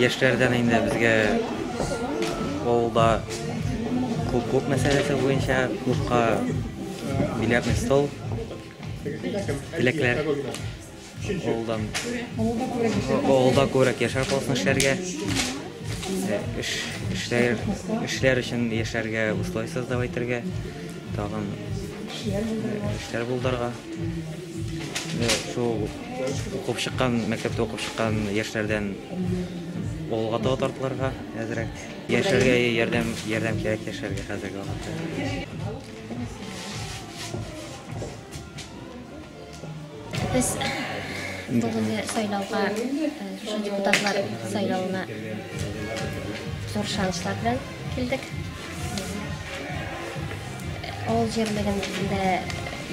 Яшьләрдән инде безгә авылда клуб-клуб мәсьәләсе буенча клубка билетный стол, теләкләр. Авылдан. Авылда күбрәк яшәр калсын эшләргә. Э, эш, эшләр, эшләр өчен яшәргә бушлай создав итәргә. Тагын эшләр булдырырга. Э, шул укып чыккан, мәктәптә укып чыккан яшьләрдән авылга таба тартылырга әзрәк. Яшәргә ярдәм, ярдәм кирәк яшәргә хәзерге вакытта. Без бүгенге сайлауга, шушы депутатлар сайлауына зур шанслар белән килдек. Авыл җирлегендә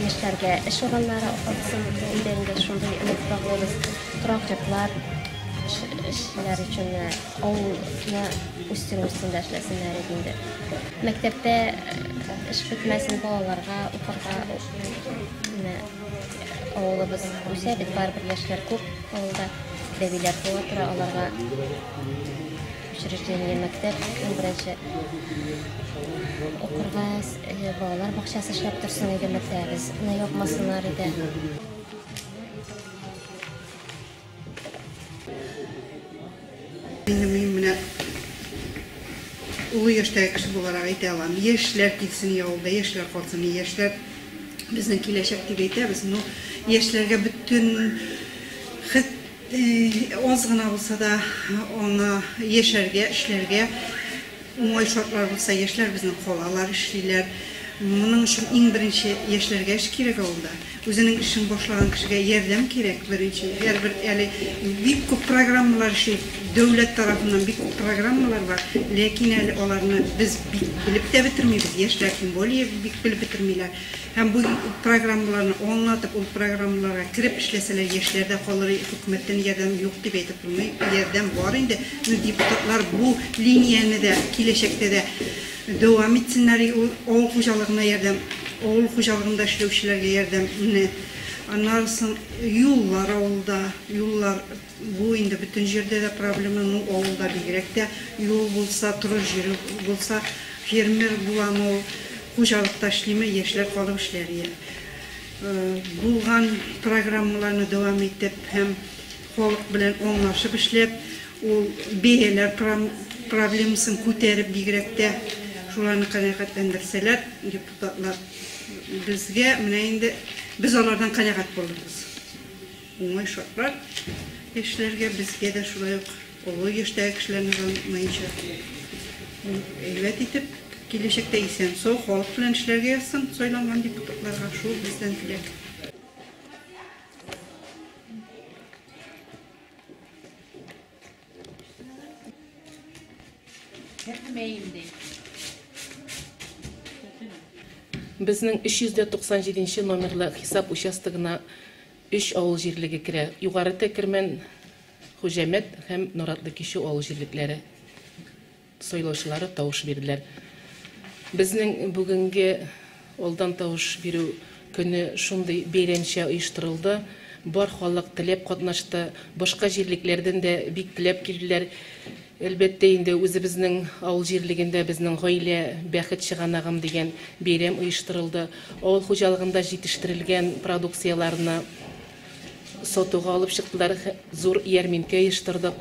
яшьләргә эш урыннары алсын иде инде шундый өмет баглыйбыз. Торак йортлар эшләр өчен авылны үстерү өстендә эшләсеннәр иде инде. Мәктәптә эш бетмәсен балаларга укырга Менә авылыбыз үсә бит, барыбер яшьләр күп авылда. Бәбиләр туа тора, аларга учреждение мәктәп иң беренче укырга э, балалар бакчасы эшләп торсын иде мәктәбебез. Менә япмасыннар иде. Инде мин менә олы яшьтәге кеше буларак әйтә алам, яшьләр килсен авылда, яшьләр калсын, яшьләр безнең киләчәк дип әйтәбез, но яшьләргә бөтен хет аз гына булса да аңа яшәргә, эшләргә Уңай шартлар булса, яшьләр безнең калалар, эшлиләр. Моның өчен иң беренче яшьләргә эш кирәк авылда. Үзенең эшен башлаган кешегә ярдәм кирәк беренче. Һәрбер әле бик күп программалар эшли, дәүләт тарафыннан бик күп программалар бар, ләкин әле аларны без бик белеп тә бетермибез, яшьләр тем более бик белеп бетермиләр. Һәм бу программаларны аңлатып, ул программаларга кереп эшләсәләр, яшьләрдә калыр хөкүмәттән ярдәм юк дип әйтеп булмый. Ярдәм бар инде. Ну, депутатлар бу линияне дә киләчәктә дә дәвам итсеннәр. Ул авыл хуҗалыгына ярдәм, авыл хуҗалыгында эшләүчеләргә ярдәмне. Аннан соң юллар авылда, юллар Бу инде бөтен җирдә дә проблема, ну авылда бигрәк тә. Юл булса, торыр җире булса, фермер буламы ул, хуҗалыкта эшлиме, яшьләр калып эшләр йә булган программаларны дәвам итеп һәм халык белән аңлашып эшләп, ул бәяләр проблемасын күтәреп бигрәк тә шуларны канәгатьләндерсәләр, депутатлар, безгә менә инде без алардан канәгать булырбыз. Уңай шартлар яшьләргә, безгә дә шулай ук олы яшьтәге кешеләрне дә онытмаенча, әйбәт итеп, киләчәктә исән-сау, халык белән эшләргә язсын сайланган депутатларга, шул бездән теләк. Безнең 397 нче номерлы хисап участогына Өч авыл җирлеге керә, Югары Тәкермән, Хуҗәмәт һәм Норатлы Кичү авыл җирлекләре сайлаучылары тавыш бирделәр. Безнең бүгенге алдан тавыш бирү көне шундый бәйрәмчә оештырылды, бар халык теләп катнашты, башка җирлекләрдән дә бик теләп килделәр. Әлбәттә инде, үзебезнең авыл җирлегендә Безнең гаилә, бәхет чыганагым дигән бәйрәм оештырылды. Авыл хуҗалыгында җитештерелгән продукцияләрне сатуга алып чыктылар, зур ярминкә оештырдык.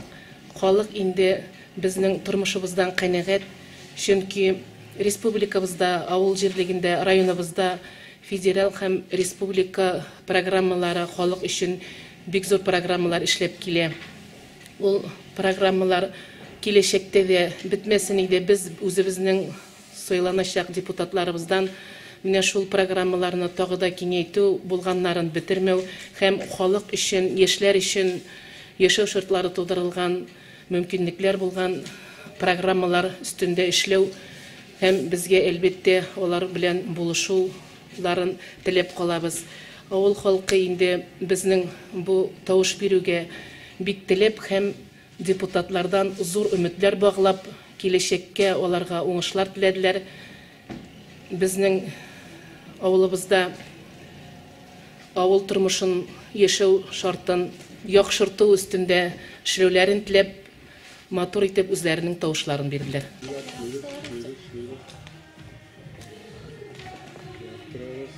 Халык инде безнең тормышыбыздан канәгать, чөнки республикабызда, авыл җирлегендә, районыбызда федераль һәм республика программалары халык өчен бик зур программалар эшләп килә. Ул программалар киләчәктә дә бетмәсен иде, без үзебезнең сайланачак депутатларыбыздан менә шул программаларны тагы да киңәйтү, булганнарын бетермәү һәм халык өчен, яшьләр өчен яшәү шартлары тудырылган, мөмкинлекләр булган программалар өстендә эшләү һәм безгә, әлбәттә, алар белән булышу, ларын теләп калабыз. Авыл халкы инде безнең бу тавыш бирүгә бик теләп һәм депутатлардан зур өметләр баглап, киләчәккә аларга уңышлар теләделәр. Безнең авылыбызда авыл тормышын, яшәү шартын яхшырту өстендә эшләүләрен теләп, Матур итеп үзләренең тавышларын бирделәр. Бөек, бөек, бөек. Яптырабыз.